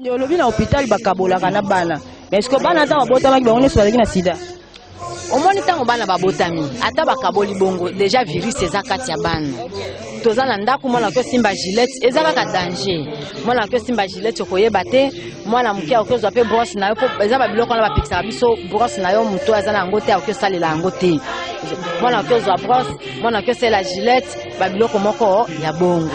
Nde olobi na hôpital bakabolaka na bana. Mais est-ce que bana ntango babotamaki bango nyonso bazalaki na sida? omoni ntango bana babotami ata bakaboli bongo deja virus eza kati ya bana toza na ndako mwana oki osimba gilete eza kaka danger mwana oki osimba gilete okoyeba te mwana moke akoki ozwa mpe brosse na yo mpo eza babiloko wana bapekisaka biso brosse na yo moto aza na yango te akoki osalela yango te mwana oki ozwa brosse mwana oki osela gilete babiloko moko ya bongo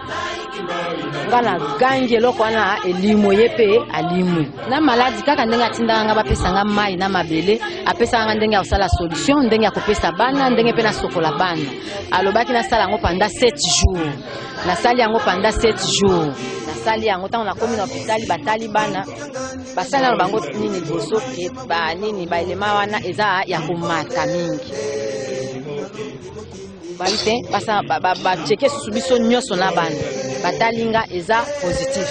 nga na gangi eloko wana elimo ye mpe alimwi na maladi kaka ndenge atindaka nga bapesa nga mai na mabele apesaka nga ndenge ya kosala solution ndenge ya kopesa bana ndenge mpe nasokola bana alobaki nasala yango panda 7 jours nasali yango panda 7 jours nasali yango ntango nakomi na hopitali batali bana basali nano bango nini liboso ke banini baelema wana eza ya komata mingi bayi te baceke susu biso nyonso na bana batali nga eza positif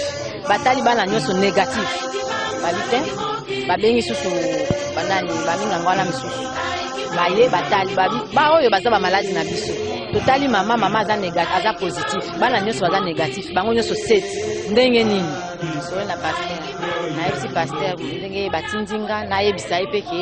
batali bana nyonso négatif bayi te babengi susu banani baminga ngo wana misusu baye batali babi baoyo baza bamaladi na biso totali mama mama aza négatif aza positif bana nyonso baza négatif bango nyonso set ndenge nini soyo na paster nayebisi paster ndenge batindi nga nayebisa ye mpe ke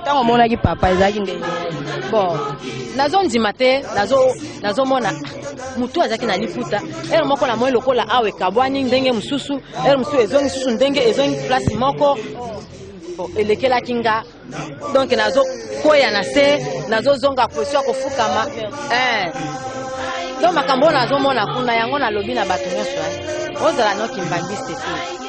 ntango omonaki papa ezalaki ndenge bon nazondima te nazomona nazo ah, motu azalaki na liputa ere moko na moi lokola awa ekabwani ndenge mosusu ere mosusu ezongi susu ndenge ezongi place moko bon elekelaki nga donc nazokweya na se nazozonga position ya kofukama eh. donc makambo oyo nazomona kuna yango nalobi na bato nyonso eh. ozala noki mbangiste te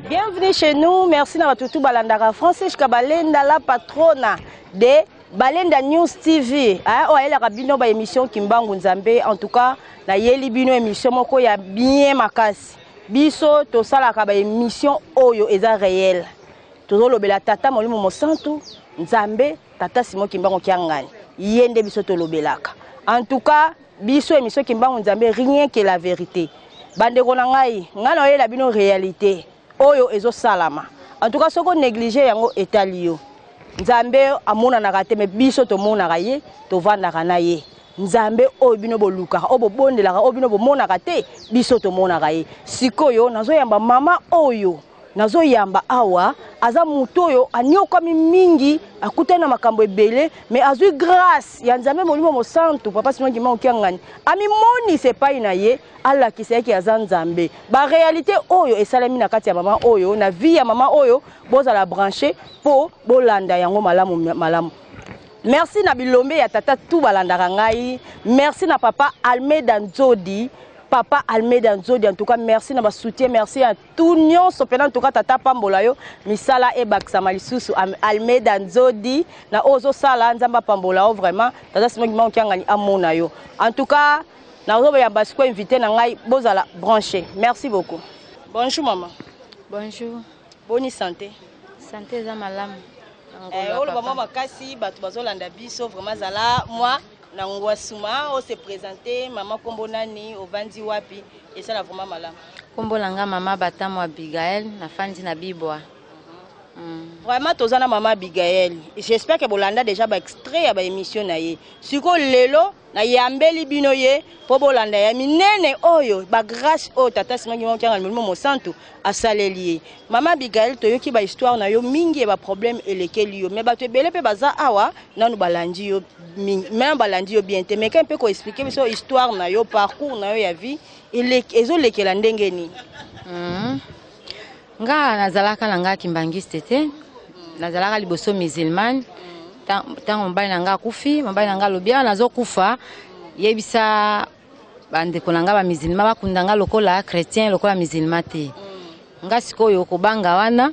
Bienvenue chez nous, merci na batu tout balandaka Francis Kabalenda la patrona de Balenda News TV. Hein, oyo ayelaka bino ba émission Kimbangu Nzambe. En tout cas, na yeli bino émission moko ya bien makasi. Biso tosalaka ba émission oyo eza réel. Tozolobela tata Molimo Mosantu, Nzambe, tata Simon Kimbangu Kiangani. Ye nde biso tolobelaka. En tout cas, biso emission kimbangu nzambe rien que la verite bandeko na ngai ngai naoyela bino réalité oyo ezosalama en tout cas soki onéglige yango etali yo nzambe amonanaka te me biso tomonaka ye tovandaka na ye nzambe oyo bino bolukaka oyo bobondelaka oyo bino bomonaka te biso tomonaka ye sikoyo nazoyamba mama oyo nazo yamba awa aza moto oyo aniokwami mingi akutani na makambo ebele mais azwi grâce ya nzambe molimo mosantu papa sino ndima okiangani amimonisa epai na ye alakisa yeke aza nzambe baréalité oyo esalemi na kati ya mama oyo na vie ya mama oyo bozala branche mpo bolanda yango malamu malamu merci na bilombe ya tata tu balandaka ngai merci na papa almeda nzodi papa almeda nzodi en tout cas merci na basoutien merci tout nyonso mpena ntuka tata apambola yo misala ebakisama lisusu almeida nzodi na oyo ozosala nzambe apambola yo vraiment tata simoki mango kiangani amona yo en tout cas nazoyamba sikoyo invité na ngai bozala branché merci beaucoup bonjour mama bonjour boni santé santé eza malamu eh, oloba mwa makasi bato bazolanda biso vraiment zala mwa na ngwasuma o se presente mama kombo nani ovandi wapi esala vraiment malamu kombo na nga mama batamu abigael nafandi na bibwa Mm. vraiment toza na mama abigael j'espère ke bolanda déjà baextrait ya baémission na ye sikoyo lelo nayambeli bino ye mpo bolanda ya minene oyo bagrâce oyo tata simaki mokianga molimo mosantu asaleli ye mama abigael toyoki bahistoire na yo mingi ya baproblème elekeli yo me bato ebele mpe baza awa nanu balandi yo te meme balandi yo bien te meka mpe koexplike biso histoire na yo parcours na yo ya vie ezolekela ndenge nini hmm. nga nazalaka na nga kimbangiste te nazalaka liboso musulmane ntango mobali na nga akufi mobali na nga alobi awa nazokufa yebisa bandeko na nga bamusulma bakunda nga lokola chrétien lokola musulma te nga sikoyo kobanga wana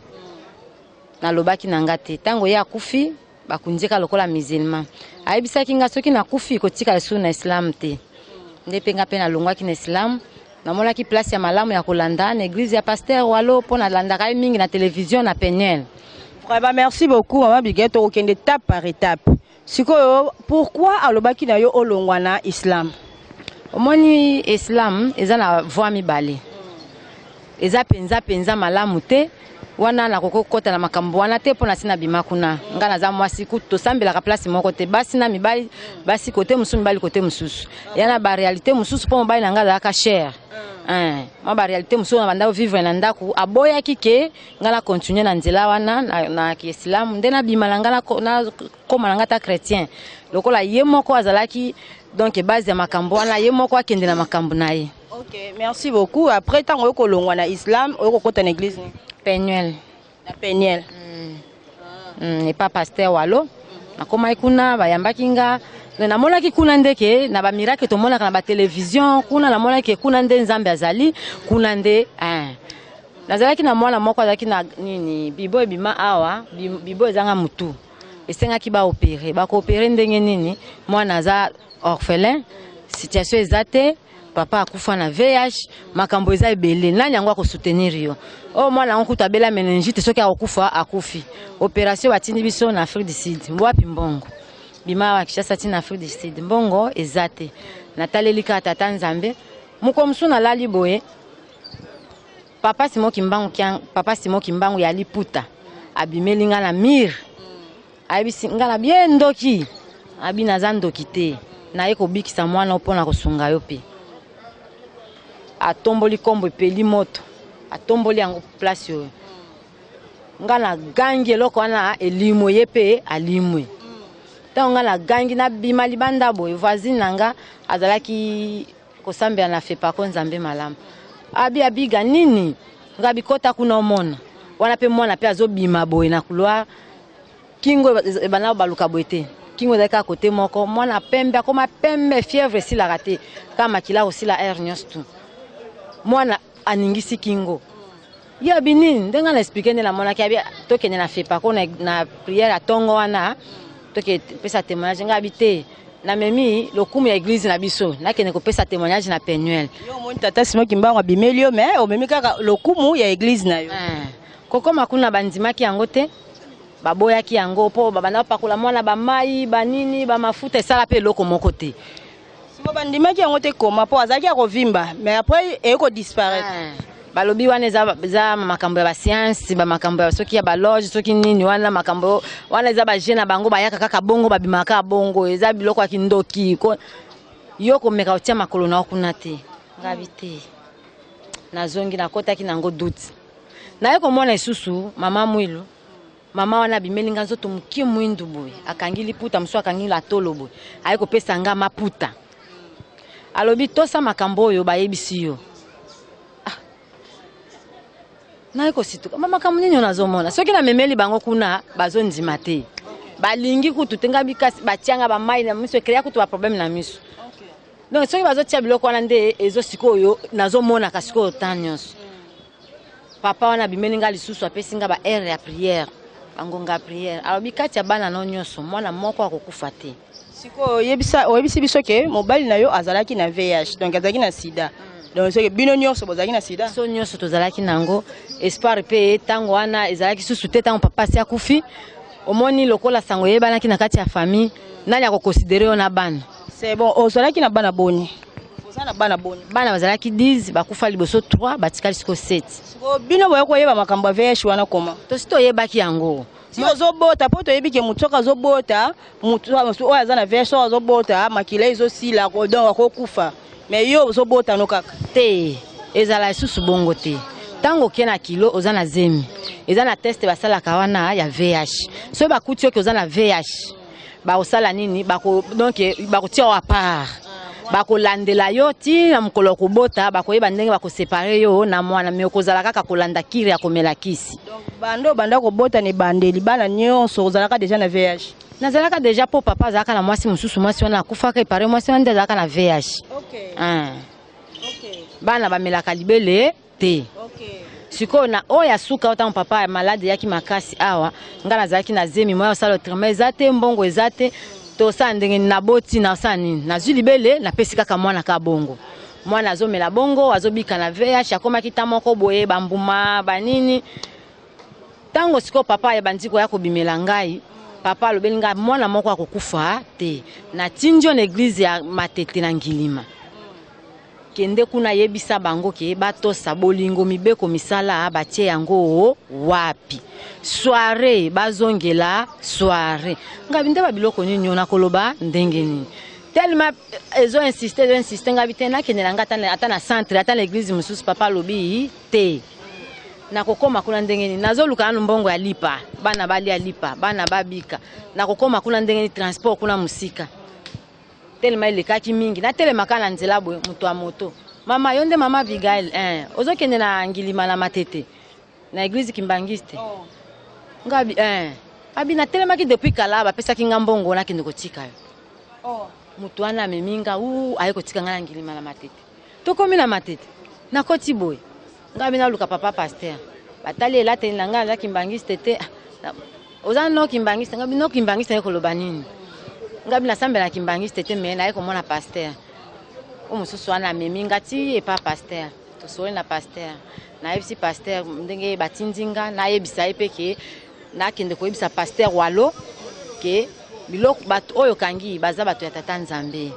nalobaki na nga te ntango ye akufi bakunzi ka lokola musulman ayebisaki nga soki nakufi kotika lisusu na islam te nde mpe nga mpe nalongwaki na islam namonaki place ya malamu ya kolanda na eglise ya pasteur walo mpo nalandaka ye mingi na television na peniel vraiment merci beaucoup mama bigele tokokende étape par étape sikoyo pourquoi alobaki na yo olongwa na islam omoni islam eza na voi mibale Eza penza penza malamu te. Wana na koko kota na makambo wana te pona sina bima kuna. Nga naza mwasi kutu tosambelaka place moko te. Basi na mibali, basi kote mususu mibali kote mususu. Ya na ba realite mususu po mobali na nga azalaka cher. Hein, mwa ba realite mususu na banda vivre na ndaku aboyaki ke nga na continuer na nzela wana na, na kiesilamu nde na bima na nga na, na koma na nga ta chrétien. Lokola ye moko azalaki donc base ya makambo wana ye moko akende na makambo na ye. Ok, merci beaucoup. Après, tant que l'on a islam, on est en église. Penuel. La Penuel. Mm. Ah. Mm, et pas pasteur Wallo. nakomaki kuna bayambaki nga namonaki kuna nde ke na bamiracle tomonaka na batelevizio kuna namonaki ke kuna nde nzambe azali kuna nde eh. nazalaki na mwana moko azalaki na nini bibo ebima awa bibo ezanga motu esengaki baopere bakoopere ndenge nini mwana aza orphelin situation eza te papa akufa na VIH makambo eza ebele nani yango akosoutenir yo oyo oh, mwana yango kutu abela meningite soki akokufa akufi operation batindi biso na Afrique du Sud wapi mbongo bima awa Kinshasa ti na Afrique du Sud mbongo eza te nataleli kaka tata Nzambe mokolo mosusu nalali boye Papa Simon Kimbangu kiang, Papa Simon Kimbangu ya liputa abimeli nga na mur ayebisi nga na bie ndoki abi naza ndoki te naye kobikisa mwana mpo na kosunga yo mpe atomboli nkombo epeli moto atomboli yango place oyo nga na gangi eloko wana elimwe ye mpe alimwe ntango nga na gangi nabima libanda boye voisine na nga azalaki Kosambela na Fepaco Nzambe malamu. Abi abiga nini? Ngabi kota kuna omona. Wana pe mwana pe azobima boye na couloir. Kingo ebana baluka boye te. Kingo ezali kaka kote moko. Mwana pembe akoma pembe fièvre esilaka te. Kaka makila kosila air nyonso tu. Mwana aningisi kingo. ye abini ndenge nga na explike nde namonaki abi tokende na fepako na, na priere ya ntongo wana toke pesa témoignage nga abi te namemi lokumu ya eglize na biso nakende kopesa témoignage na penuel yo omoni tata simo kimbangu abimeli yo mais omemi kaka lokumu ya eglize na yo eh, kokoma kuna bandimaki yango te baboyaki yango mpo babanda bapakola mwana bamai banini bamafuta esala mpe eloko moko te siko bandimaki yango te koma mpo azalaki ya kovimba mais après eye kodisparaître ah. balobi wana eza makambo ya basiansi bamakambo ya soki ya baloge soki nini wana makambo wana eza baje na bango bayaka kaka bongo babimaka bongo eza biloko ya kindoki yo komeka kotia makolo na yo kuna te ngabi te nazongi nakotaki nango duti naye komona lisusu mama mwilu mama wana abimeli nga nzoto mokie mwindu boye akangi liputa mosusu akangi la tolo boye aye kopesa nga maputa alobi tosa makambo oyo bayebisi yo ah. naye kosituka ma makambo nini oyo nazomona soki namemeli bango kuna bazondima te balingi kutu te nga bikasi batianga bamai na miso ekreya kutu baproblème na miso donc soki bazotia biloko wana nde ezo sikoyo nazomonaka sikoyo temps nyonso papa wana abimeli nga lisusu apesi nga ba heure ya prière bangonga ya prière alobi kati ya bana no nyonso mwana moko akokufa te sikoyo oyebisa oyebisi biso ke mobali na yo azalaki na vih donc azalaki na sida hmm. donc soki bino nyonso bozalaki na sida biso nyonso tozalaki na yango espoir mpe ntango wana ezalaki susu te ntango papa asi akufi omoni lokola sango eyebanaki na kati ya famille nani akokonsidere yo na bana C'est bon, ozalaki na bana boni? Oza na bana boni? Bana bazalaki 10, bakufa liboso 3, batikali siko 7. Siko bino boye koyeba makambo ya VIH wana koma? Tosi toyebaki yango. Si ozobota po toyebi ke moto soki azobota moto oyo aza na VIH soki azobota makila ezosila donc akokufa. Mais yo ozobota no kaka? Te, ezala lisusu bongo te. Tango oke na kilo oza na zemi. Eza na test basalaka wana ya VIH. Soki bakuti yo ke oza na VIH, bakosala nini bako donc bakotia yo apart bakolandela yo ti na mokolo ya kobota bakoyeba ndenge bakosepare yo na mwana me okozala kaka kolanda kiri ya komela kisi bande obanda kobota na ebandeli bana nyonso ozalaka deja na vih nazalaka deja mpo papa azalaka na mwasi mosusu mwasi wana akufaka epare mwasi wana nde azalaka na vih okay. Ah. okay. bana bamelaka libele te sikoyo na oyo ya suka oyo ntango papa ya malade eyaki makasi awa ngai nazalaki na zemi moya osala otrema eza te mbongo eza te tosala ndenge naboti nasala nini nazwi libele napesi kaka mwana ka bongo mwana azomela bongo azobika na vh akomaki ta moko boye bambuma banini ntango sikoyo papa ebandi koya kobimela ngai papa alobeli ngai mwana moko akokufa te natindi yo na eglize ya matete na ngilima Kende kuna yebisa bango ke batosa bolingo mibeko misala batie yango o wapi soiree bazongela soiree ngabi nde babiloko nini yo nakoloba ndenge nini tellement ezo insiste ezo insiste ngabi te nakende na nga ata na centre ata na eglise mosusu papa alobi te nakokoma kuna ndenge nini nazoluka nanu mbongo ya lipa bana balia lipa bana babika nakokoma kuna ndenge nini transport kuna mosika Tellement elekaki mingi, natelema kaka na nzela boye, moto ya moto. Mama, yo nde mama Abigail? Eh, ozokende na Ngilima na Matete, na eglise Kimbanguiste? Oh. Nga abi, eh, abi natelemaki depuis kala, bapesaki nga mbongo nakende kotika yo. Oh. Moto wana amemi nga, uu, aye kotika nga na Ngilima na Matete. Tokomi na Matete, nakoti boye. Nga bina luka papa pasteur. Batali elateli na nga aza kimbangiste te. Oza no kimbangiste, nga bino kimbangiste yeko loba nini? Nga bina sambela kimbangiste te mais na yeko mona pasteur. O mususu wana memi nga ti epa pasteur. Tosoli na pasteur. Na yebisi pasteur ndenge batindi nga na yebisa ye pe ke na kende ko yebisa pasteur Walo ke biloko bato oyo kangi baza bato ya tata Nzambe.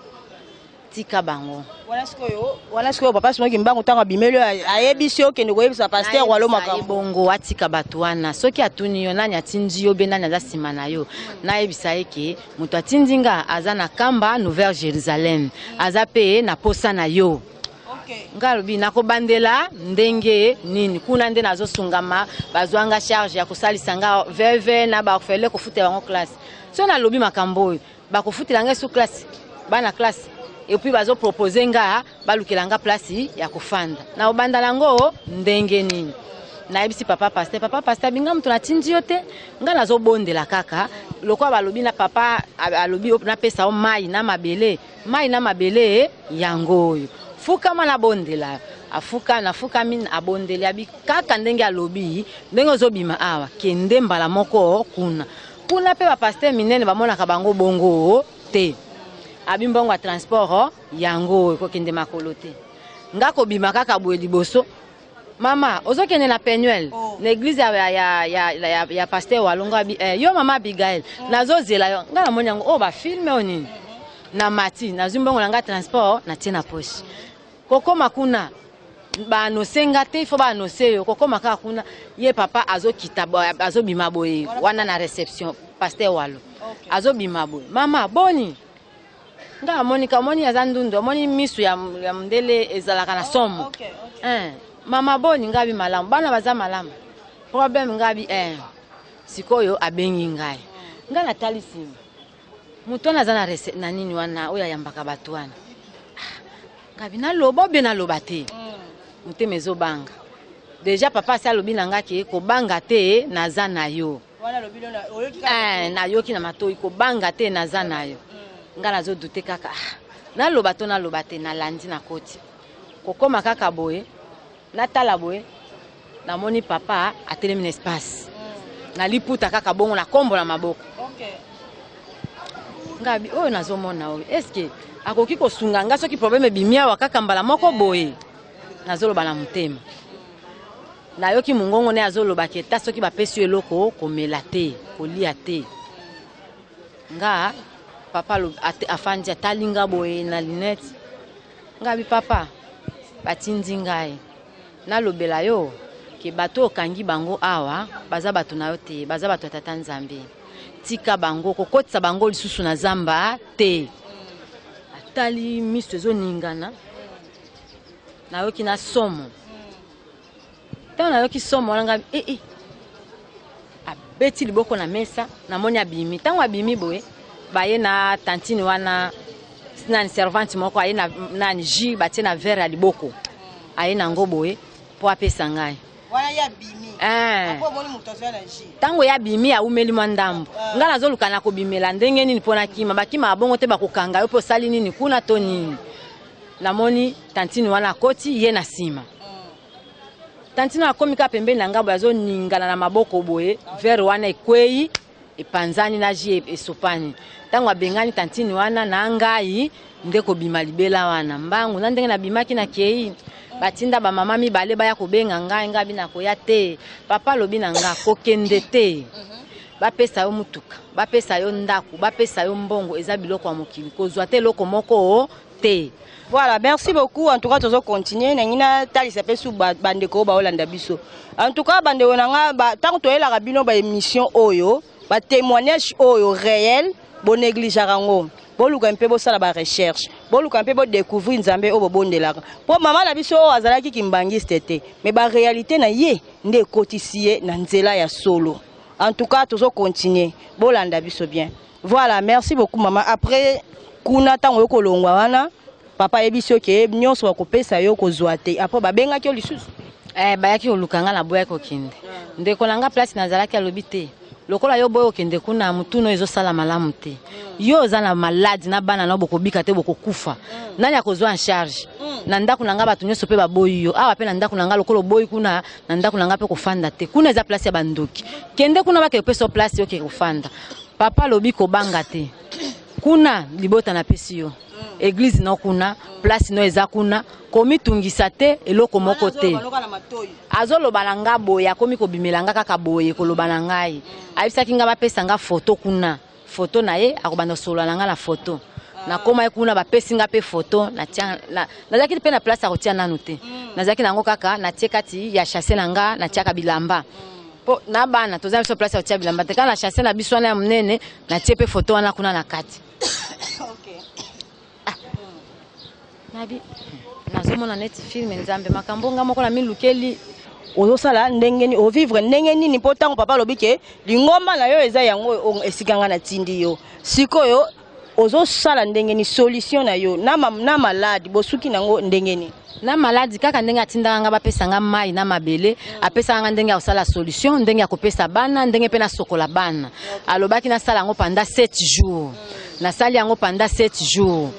tika bango wana sikoyo wana sikoyo papa simoki mbangu ntango abimeli ayebisi yo okende koyebisa paster walo makambo bongo atika bato wana soki atuni yo nani atindi yo be nani aza nsima na yo nayebisa ye ke moto atindi nga aza na kamba nouvelle jérusalem aza mpe na posa na yo nga alobi nakobandela ndenge nini kuna nde nazosungama bazwa nga charge ya kosalisa nga veve na baorfele kofuta bango classe so nalobi makambo oyo bakofutela ngai su classe bana classe epuis bazopropose nga balukela nga place ya kofanda na obanda nango ndenge nini nayebisi papa paster papa paster binga moto natindi yo te ngai nazobondela kaka lokola balobi na papa alobi napesa yo mai na mabele mai na mabele yango oyo fukama nabondela afuka nafukami abondeli abi kaka ndenge alobi ndenge ozobima awa kende mbala moko kuna Kuna pe ba pasteur minene ba monaka bango bongo oh, te. Abi mbongo ya transport oh, yango oh, ekokende makolo te. Nga kobima kaka boye liboso mama ozokende na penuel oh. na eglize ya, ya, ya, ya, ya, ya paster walonga eh, yo mama abigail oh. nazozela yo ngai namoni yango oyo oh, bafilme oyo nini na mati nazwi mbongo na ngai transport natie na poche kokoma kuna ba annonce nga te il faut ba annonce yo kokoma kaka kuna ye papa azokita azobima boye wana na reception pasteur walo azobima boye mama boni nga amoni kamoni aza ndundu amoni misu ya, ya mundele ezalaka na oh, somo oh, okay, okay. Eh, mama boni ngabi malamu bana baza malamu problème ngabi eh. sikoyo abengi ngai ngai natali nsima moto wana aza na rese na nini wana oyo ayambaka bato wana ah, ngabi naloba obe naloba te mm. motema ezobanga deja papa asi alobi na nga ke kobanga te naza na yo eh, nayoki na matoi kobanga te naza na yo mm. nga nazodute kaka ah, naloba to naloba te nalandi na koti kokóma kaka boye Natala boye namoni papa atelemi na espace mm. na liputa kaka bongo na kombo na maboko okay. ngabi oyo nazomona oyo eske akoki kosunga nga soki probleme ebimi awa kaka mbala moko boye nazoloba na motema nayoki mongongo ne azoloba ke ta soki bapesi yo eloko komela te kolia te nga papa afandi atali nga boye na linete ngabi papa batindi ngai nalobela yo ke bato okangi bango awa baza bato na yo te baza bato ya tata nzambe tika bango kokotisa bango lisusu na zamba te atali miso ezoningana nayoki na somo ntango nayoki somo wana ngai ee eh, eh. abeti liboko na mesa namoni abimi ntango abimi boye baye na tantine wana nani servante moko aye na nani jus batie na verre ya liboko aye na yango boye mpo apesa ngai ntango eh. ye abimi aumeli mwa ndambo ah. ngai nazoluka na kobimela ndenge nini mpo nakima bakima babongo te bakokanga yo mpo osali nini kuna to nini namoni tantine wana akoti ye na nsima tantine akomi kaka pembeni na ngai boye azoningana na maboko boye vere wana ekwei epanzani na ji e-, esopani ntango abengani tantine wana na ngai nde kobima libela wana mbangu na ndenge nabimaki na kei batinda bamama mibale baya kobenga ngai ngai abi nakoya te papa alobi na ngai kokende te mhm. bapesa yo motuka bapesa yo ndako bapesa yo mbongo eza biloko ya mokili kozwa te eloko moko te voilà merci beaucoup en tout cas tozo continuer nangi natalisa mpe su bandeko oyo baolanda biso en tout cas bandeko na nga ntango toyelaka bino baémission oyo batémoignage oyo réel bonegligeaka yango boluka mpe bosala barecherche boluka mpe bodécouvrir nzambe oyo bobondelaka mpo mama na biso oyo azalaki kimbangiste te mais baréalité na ye nde ekotisi ye na nzela ya solo en tout cas tozo continuer bolanda biso bien Voilà, merci beaucoup maman. Après kuna tango yo kolongwa wana papa ayebisi yo ke nyonso bakopesa yo kozwa te après babengaki yo lisusu eh, bayaki koluka ngai naboyaki kokende ndeko na ngai place nazalaki alobi te lokola yo boye okende kuna motuna oyo ezosala malamu te yo oza na maladi na bana nao bokobika te bokokufa nani akozwa en charge na ndako na ngai bato nyonso mpe baboyi yo awa mpe na ndako na ngai lokola oboyi kuna na ndako na ngai mpe kofanda te kuna eza place ya bandoki kende kuna bakekopesa place okeke kofanda papa alobi kobanga te kuna libota napesi yo eglize no kuna place no eza kuna komitungisa te eloko moko te azoloba na nga boye akomi kobimela nga kaka boye koloba na ngai ayebisaki nga bapesa nga foto kuna foto na ye akobanda kosolola na nga na foto nakomaki kuna bapesi nga mpe foto nazalaki mpe na place ya kotia nanu te nazalaki na yango kaka natie kati ya chasse na nga natiaka bilamba Po na bana toza biso place ya kotia bilamba te kaka na chasse na biso wana ya monene natie mpe foto wana kuna na kati okay. ah. nabi nazomona neti filme nzambe makambo nga moko na milukeli ozosala ndenge nini ovivre ndenge nini mpo ntango papa alobi ke lingomba na yo eza yango esika ngai natindi yo sikoyo ozo sala ndenge ni solution na yo na, ma, na malade bosuki nango ndenge ni na maladi kaka ndenge atindaka nga bapesa nga mai na mabele apesaka nga ndenge ya kosala solution ndenge ya kopesa bana ndenge mpe nasokola bana alobaki nasala yango panda 7 jours nasali yango panda 7 jours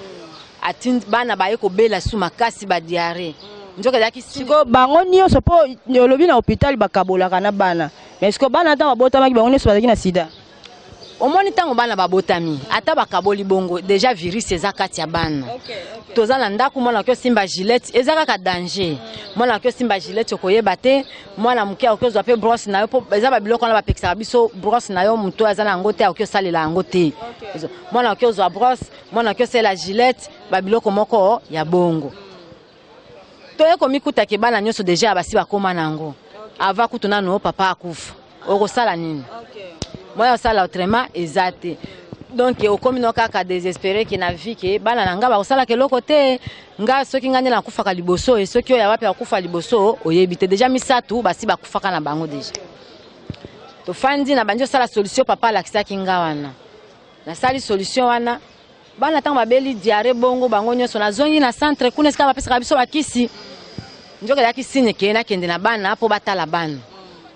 atindi bana baye kobela su makasi badiare nzoka ezalaki siko bango nyonso mpo olobi na hôpital bakabolaka na bana mais siko bana ntango babotamaki bango nyonso bazalaki na sida omoni ntango bana babotami ata bakaboli bongo deja virus eza kati ya bana toza na ndako mwana oki osimba gilete eza kaka danger mwana oki osimba gilete okoyeba te mwana moke akoki ozwa mpe brosse na yo mpo eza babiloko wana bapekisaka biso brosse na yo moto aza na yango te akoki osalela yango te mwana oki ozwa brosse mwana oki osalela gilete babiloko moko ya bongo toye komikuta ke bana nyonso deja basi bakoma na yango ava kutu nano papa akufa okosala nini moya osala autrement eza te donc okomi no kaka desespere ke na vie ke bana na ngai bakosalaka eloko te nga soki ngai nde nakufaka liboso e soki oyo ya wapi akufa liboso oyebi te deja misato basi bakufaka na bango deja tofandi na bandi osala solution papa alakisaki nga wana nasali solution wana bana ntango babeli diare bongo bango nyonso nazongi na centre kuna esika bapesaka biso bakisi nzoka ezalaki signe ke nakende na bana mpo batala bana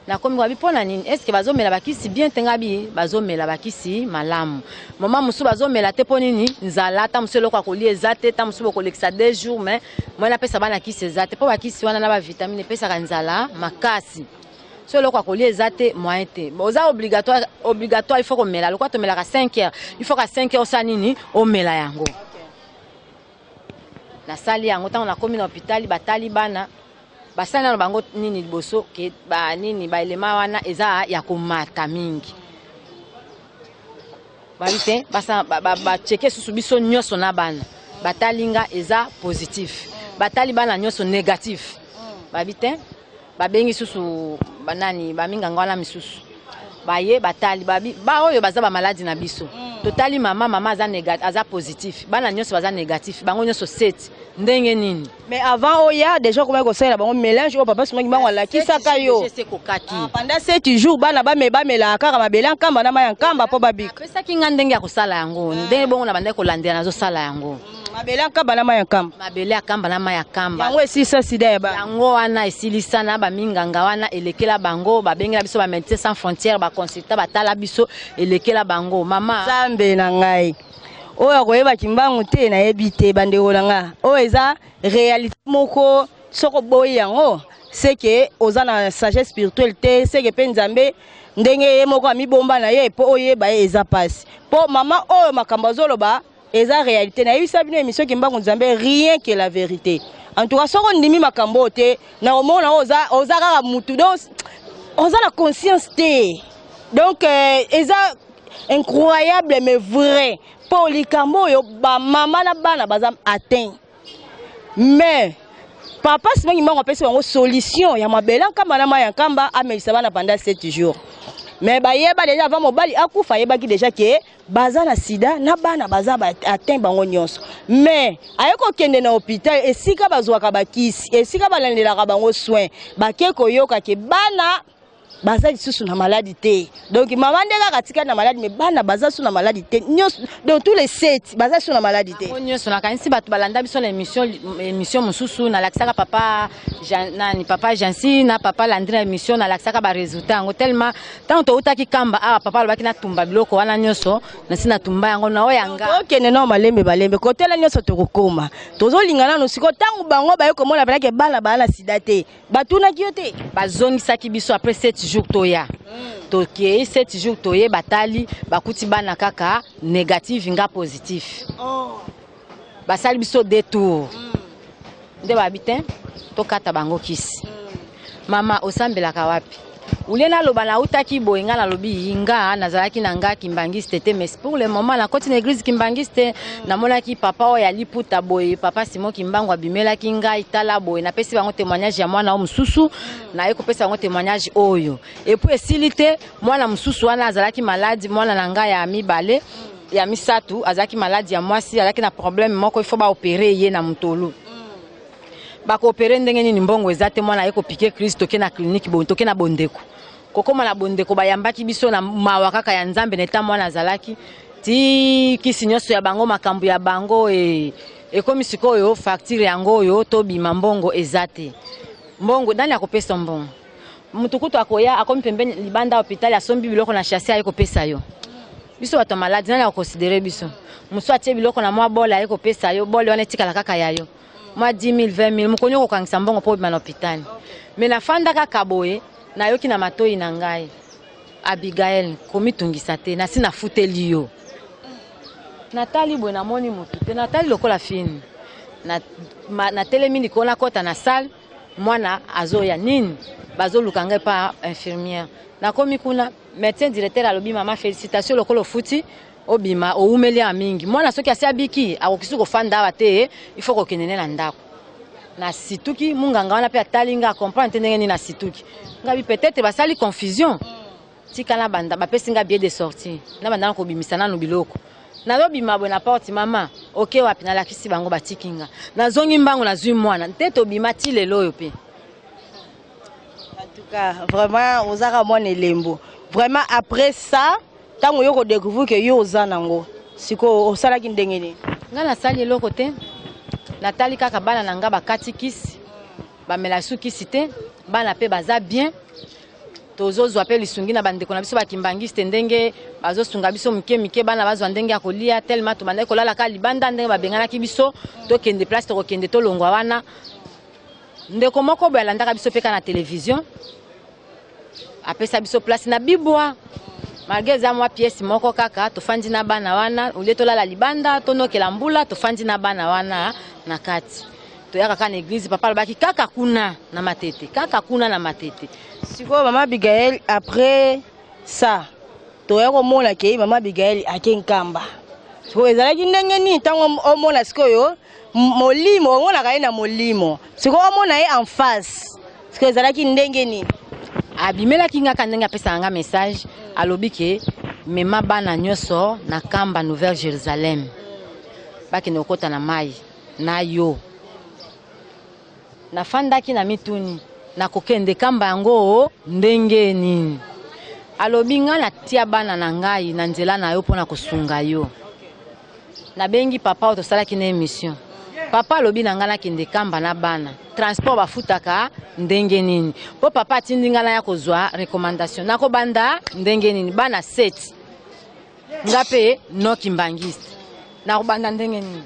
nakomi kwabi mpo na nini estce bazomela bakisi bien te ngai bi bazomela bakisi malamu moma mosusu bazomela te mpo nini nzala ta mosusu eloko ya kolia eza te ta mosusu bokolekisa deux jours mais moi napesa bana kisi eza te mpo bakisi wana na bavitamine epesaka nzala makasi so eloko ya kolia eza te moyen te oza obligatoire obligatoire il faut komela lokola tomelaka 5 heures il faut ka 5 heures osala nini omela yango nasali yango ntango nakomi na hôpital batali bana basali nano bango nini liboso ke ba nini baelema wana eza ya komata mingi babi te baceke susu biso nyonso na bana batali nga eza positif batali bana nyonso négatif babi te babengi susu banani baminganga wana misusu baye batali baoyo baza bamaladi na biso mm. totali mama mama aza, aza positif bana nyonso baza négatif bango nyonso seti ndenge nini mais avant oya déjà okomaki kosalela bango mélange oyo papa sumaki bango alakisaka yo ekokaki ah, pendant sept jours bana bamelaka kaka mabele ya nkamba na mai ya nkamba mpo babika apesaki ngai ndenge ya kosala yango ndenge bongo na bandaki kolandela nazosala yango mabele ya nkamba na mai ya nkamba mabele ya nkamba na mai ya nkamba yango esilisa sida ya ba yango wana esilisa na baminganga wana elekela bango babengela biso bamédecin sans frontière baconsulta batala biso elekela bango mama nzambe na ngai oyo akoyeba kimbangu te nayebi te bandeko na ngai oyo eza réalité moko soki oboyi yango seke oza na sagesse spirituelle te seke mpe nzambe ndenge ye moko amibomba na ye mpo oyeba ye eza mpasi mpo mama oyo makambo azoloba eza réalité nayebisa bino émission kimbangu nzambe rien que la vérité en tout cas soki ondimi makambo oyo te na omona oyo oza oza kaka mutu donc oza na conscience te donc euh, eza incroyable mais vrai mpo likambo oyo bamama na bana baza atteint mais papa sima kimbangu apesi bango solution ya mabele nkamba na mai ya nkamba amelisa bana pendant 7 jours mais bayeba deja avant mobali akufa ayebaki deja ke baza na sida na bana baza atteint bango nyonso mais aye kokende na hôpital esika bazwaka bakisi esika balandelaka bango soin bake koyoka ke bana baza lisusu na maladi te donc mama nde kaka atikali na maladi me bana baza su na maladi te nyonso donc tous les sept baza su na maladi te nyonso nakanisi bato balanda biso na émission mosusu nalakisaka papa Jean, nani papa Jansi na papa Landrine émission na laksaka ba résultats yango tellement tant to utaki kamba ah papa alobaki na tumba biloko wana nyoso na sina tumba yango na oya nga to kende na malembe balembe ko tela nyoso to kokoma tozo lingana no siko tangu bango ba yoko mona bana ke bana bana sida te batuna ki yote bazongisa ki biso après 7 jours to ya mm. to ke 7 jours to ye batali bakuti bana kaka négatif nga positif oh basali biso de tour nde babi te tokata bango kisi mama osambelaka wapi ulie naloba nautaki boye ngai nalobi yi nga nazalaki na nga kimbangiste te mais pour le moment nakoti na église kimbangiste namonaki papa oyo ya liputa boye papa simon kimbangu abimelaki ngai tala boye napesi bango témoignage ya mwana oyo mosusu naye kopesa bango témoignage oyo epuis esili te mwana mosusu wana azalaki maladi mwana na ngai ya mibale ya misato azalaki maladi ya mwasi azalaki na problème moko il faut baopere ye na motolu bakoopere ndenge nini mbongo eza te mwana aye kopike crise toke na klinike toke na bondeko kokóma na bondeko bayambaki biso na mawa kaka ya nzambe na eta mwana azalaki ti kisi nyonso ya bango makambo ya bango e, ekomi sikoyo facture yango oyo tobima mbongo eza te mbongo nani akopesa mbongo moto kutu akoya akomi pembeni libanda hôpital asombi biloko na chasse aye kopesa yo biso bato ya maladi nani akoconsidere biso mosusu atie biloko na mwa bole aye kopesa yo bole wana etikala kaka ya yo mwa 10 000 20 000 mokoni okokangisa mbongo mpo obima na hôpital me nafanda kaka boye nayoki na matoi na ngai abigael komitungisa te nasi nafuteli yo natali boye namoni motu te natali lokola fini natelemi likolo nakɔta na salle mwana azoya nini bazoluka ngai pa infirmière nakomi kuna médecin directeur alobi mama félicitation lokola ofuti obima owumeli ya mingi mwana soki asi abiki akokisi kofanda awa te il faut kokende ne na ndako nasituki munganga wana mpe atali ngai acomprendre te ndenge nini nasituki ngai peut-être basali confusion tika na banda bapesi nga billet de sortie na banda na kobimisa nanu biloko nazobima boye na porte mama oke wapi nalakisi bango batiki nga nazongi mbango nazwi mwana nte tobima ti lelo oyo mpe antuka vraiment ozaka mwana elembo vraiment après ça ntango yo kodécouvrir ke yo oza nango sikoyo osalaki ndenge nini nga nasali eloko te natali kaka bana na nga bakati kisi bamela su kisi te bana mpe baza bien tozozwa mpe lisungi na bandeko na biso bakimbangiste ndenge bazosunga biso mike mike bana bazwa ndenge ya kolia telema tobandaki kolalaka libanda ndenge babenganaki biso tokende place tokokende tolongwa wana ndeko moko boye alandaka biso mpe kaka na televizio apesa biso place na bibwa malgre eza mwa piese moko kaka tofandi na bana wana olie tolala libanda tonokela mbula tofandi na bana wana na kati toyaka kaka na eglise papa alobaki kaka kuna na matete kaka kuna na matete sikoyo mama abigael après ça toya komona ke mama abigael ake nkamba sikoyo ezalaki ndenge nini ntango omona sikoyo molimo omonaka ye na molimo sikoyo omona ye en face sikoyo ezalaki ndenge nini abimelaki nga ka ndenge apesaka nga message alobi ke mema bana nyonso na kamba nouvelle jérusalem bakende kokɔta na mai na yo. Nafandaki na mituni na kokende kamba yango ndenge nini. Alobi nga na tia bana na ngai na nzela na yo mpo na kosunga yo. Nabengi papa oyo tosalaki na emission. Papa alobi na ngai nakende kamba na bana. Transport bafutaka ndenge nini? Mpo papa atindi ngai naya kozwa recommandation. Nakobanda ndenge nini? Bana 7. nga mpe no kimbangiste nakobanda ndenge nini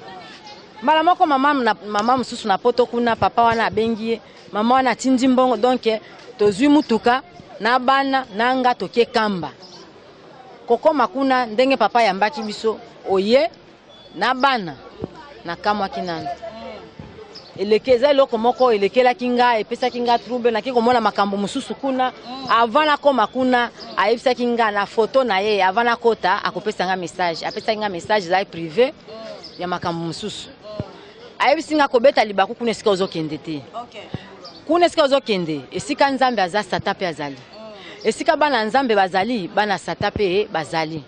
mbala moko mama, na, mama mosusu na poto kuna papa wana abengi ye mama wana atindi mbongo donk tozwi motuka na bana na nga toke kamba kokoma kuna ndenge papa ayambaki biso oye na bana nakamwaki nanu eleke eza eloko moko elekelaki nga epesaki nga trouble naki komona makambo mosusu kuna avant nakoma kuna ayebisaki nga na foto na ye avant nakota akopesa nga message apesaki nga message ezali prive ya makambo mosusu ayebisi nga kobeta libaku kuna esika ozokende te kuna esika ozokende esika nzambe aza sata mpe azali esika bana ya nzambe bazali bana sata mpe bazali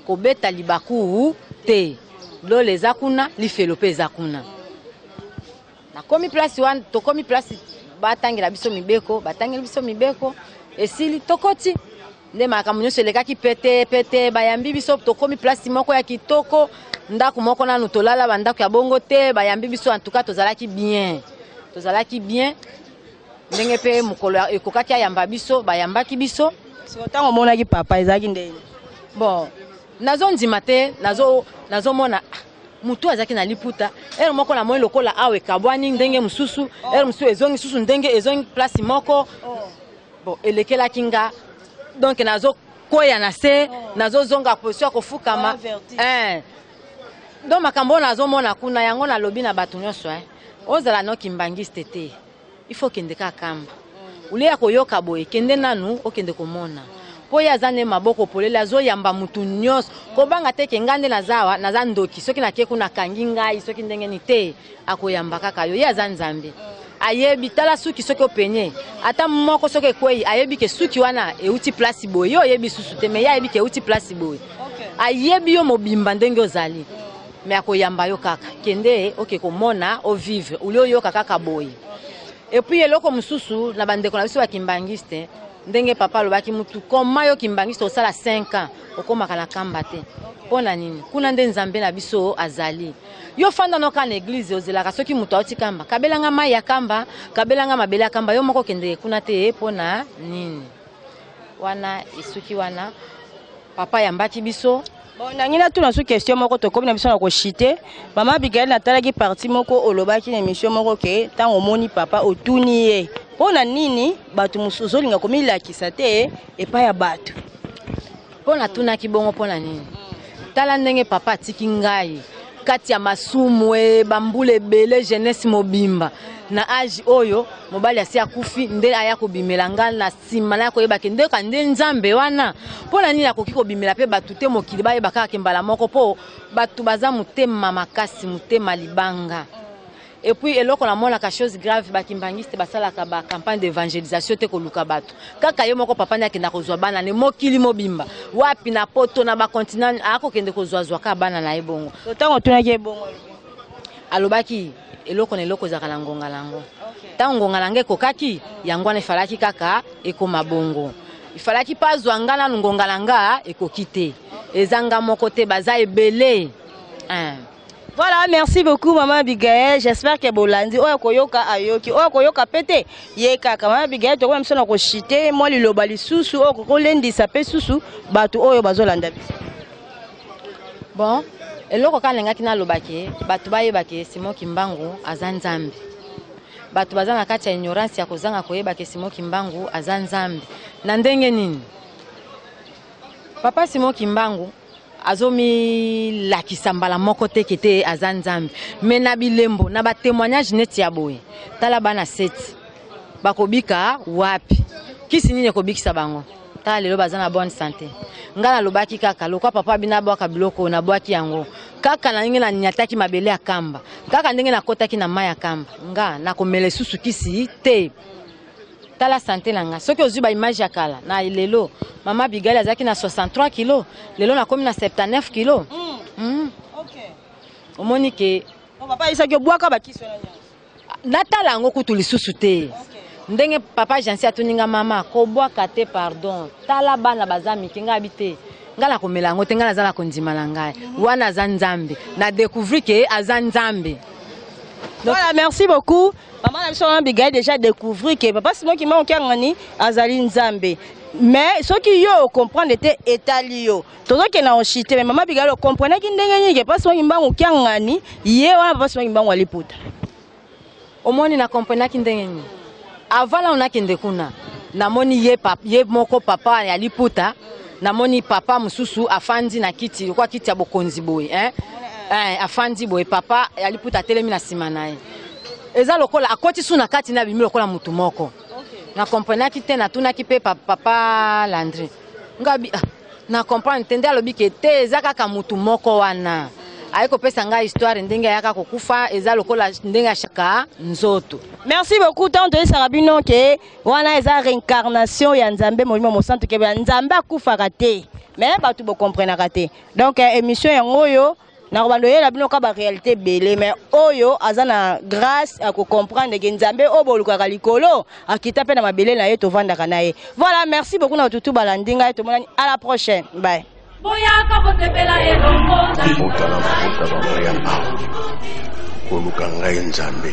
Kobeta libaku te. Lola eza kuna, lifelo pe eza kuna. Nakomi place wana, tokomi place batangela biso mibeko, batangeli biso mibeko, esili tokoti. nde makambo nyonso elekaki pete pete bayambi biso tokomi place moko ya kitoko ndako moko nanu tolala bandako ya bongo te bayambi biso antuka tozalaki bien tozalaki bien ndenge mpe mokolo ya- ekokaki ayamba biso bayambaki biso siko ntango omonaki papa ezalaki ndenge bon nazondima te nazo- nazomona ah, motu oyo azalaki na liputa ere moko namoni lokola awa ekabwani ndenge mosusu ere mosusu ezongi susu ndenge ezongi place moko bon elekelaki nga donc nazokweya na se nazozonga position ya kofukama Eh. donc makambo oyo nazomona kuna yango nalobi na bato nyonso eh. Ozala no kimbanguiste te. Il faut kende ka kamba. Ule ya koyoka boye kende nanu okende komona. mpo ye aza nde maboko polele azoyamba motu nyonso kobanga te ke ngai nde naza awa naza ndoki soki nake kuna akangi ngai soki ndenge ni te akoyamba kaka yo ye aza nzambe ayebi tala suki soki openye ata moko soki ekwei ayebi ke suki wana euti place boye yo oyebi susu te me ye ayebi ke euti place boye ayebi yo mobimba ndenge ozali mais akoyamba yo kaka kende oke komona o vivre uli oyoka kaka boye epuis eloko mosusu na bandeko na biso ya kimbangiste ndenge papa alobaki mutu koma yo kimbangiste osala 5 ans okomaka na kamba te mpo na nini kuna nde nzambe na biso azali yo fanda noka na eglize ozelaka soki moto auti kamba kabelanga mai ya kamba kabelanga mabele ya kamba yo moko okendeke kuna te mpo na nini wana esuki wana papa ayambaki biso bon nangi natuna su question moko tokomi na biso na koshite mama abigail natalaki parti moko olobaki na émission moko ke ntango omoni papa otuni ye mpo na nini bato mosusu ozolinga komilakisa te epai ya bato Mpo natunaki bongo mpo na nini? Tala ndenge papa atiki ngai kati ya masumu e bambula ebele jeunesse mobimba na age oyo mobali asi akufi nde aya kobimela ngai na nsima naya koyeba ke nde ka nde nzambe wana mpo na nini akoki kobimela mpe bato te mokili bayeba kaka ke mbala moko mpo bato baza motema makasi motema libanga Et puis eloko na mona ka chose grave ba kimbanguiste basalaka ba campagne d'évangélisation te koluka bato kaka ye moko papa nde akenda kozwa bana ne mokili mobimba wapi na poto na bacontinent akokende kozwazwa ka bana na ye bongo ntango otunaki ye bongo alobaki eloko na eloko ezalaka na ngonga na yango ntango ngonga na yango ekokaki yango wana efalaki kaka ekoma bongo ifalaki mpe azwa nga nanu ngonga na nga ekoki te eza nga moko te baza ebele Voilà, merci beaucoup maman Abigail. J'espère que bolandi oyo koyoka ayoki. Oyo koyoka pete ye kaka maman Abigail toko même sona ko chiter moi liloba lisusu oyo koko lendisa pe susu batu oyo bazolanda biso. Bon, eloko kaka nalingaki naloba ke bato bayeba ke Simon Kimbangu aza Nzambe. Bato baza na kati ya ignorance ya kozanga koyeba ke Simon Kimbangu aza Nzambe. Na ndenge nini? Papa Simon Kimbangu azomilakisa mbala moko te ke te aza nzambe me na bilembo na batémoignage neti ya boye tala bana seti bakobika wapi kisi nini ekobikisa bango tala lelo baza na bonne santé ngai nalobaki kaka lokwa papa bino abwaka biloko oyo nabwaki yango kaka na ndenge naniataki mabele ya kamba kaka ndenge nakotaki na mai ya kamba nga nakomela esusu kisi te tala sante na ngai soki ozwi baimage ya kala na lelo mama bigali azalaki na 63 kilo lelo nakomi na 79 kilo mm. Mm. Okay. omoni ke oh, papa ayisaki obwaka bakisi wana nyonso natala yango kutu lisusu te okay. ndenge papa jansi atuni nga mama kobwaka te pardon tala bana baza mike ngai abi te ngai nakomela yango te ngai naza na kondima na ngai mm. wana aza nzambe na découvrir ke aza nzambe voilà merci beaucoup Maman na biso Abigail déjà découvrir que papa Simon Kimbangu Kiangani azali Nzambe. mais soki yo ocomprendre te etali yo tozokende na oshite mais mama bigalo ocomprenaki ndenge nini ke mpasi wangi mbangu kiangani ye wana mpasi wangi mbangu aliputa omoni na comprenaki ndenge nini avant nano nakende kuna namoni ye, pap, ye moko papa ya liputa namoni papa mosusu afandi na kiti lokwa kiti ya bokonzi boye eh? Eh, afandi boye papa ya liputa atelemi na nsima na ye eza lokola akoti su na kati na bimi lokola mutu moko na comprenaki te natunaki mpe papa landri ngabi ah, na comprendre te nde alobi ke te eza kaka mutu moko wana aye kopesa ngai histoire ndenge ayaka kokufa eza lokola ndenge ashaka nzoto merci beaucoup ntango toyesaka bino ke wana eza reincarnation ya nzambe molimo mosantu kebe nzambe akufaka te me bato bokomprenaka te donc eh, émission yango oyo nakobanda oyela bino ka barealité ebele mais oyo aza na grâce ya kocomprendre ke nzambe oyo bolukaka likolo akita mpe na mabele na ye tovandaka na ye voilà merci beaucoup na batutu balandi ngai tomonani à la prochaine bye boyaka kosepela elongo koluka ngai nzambe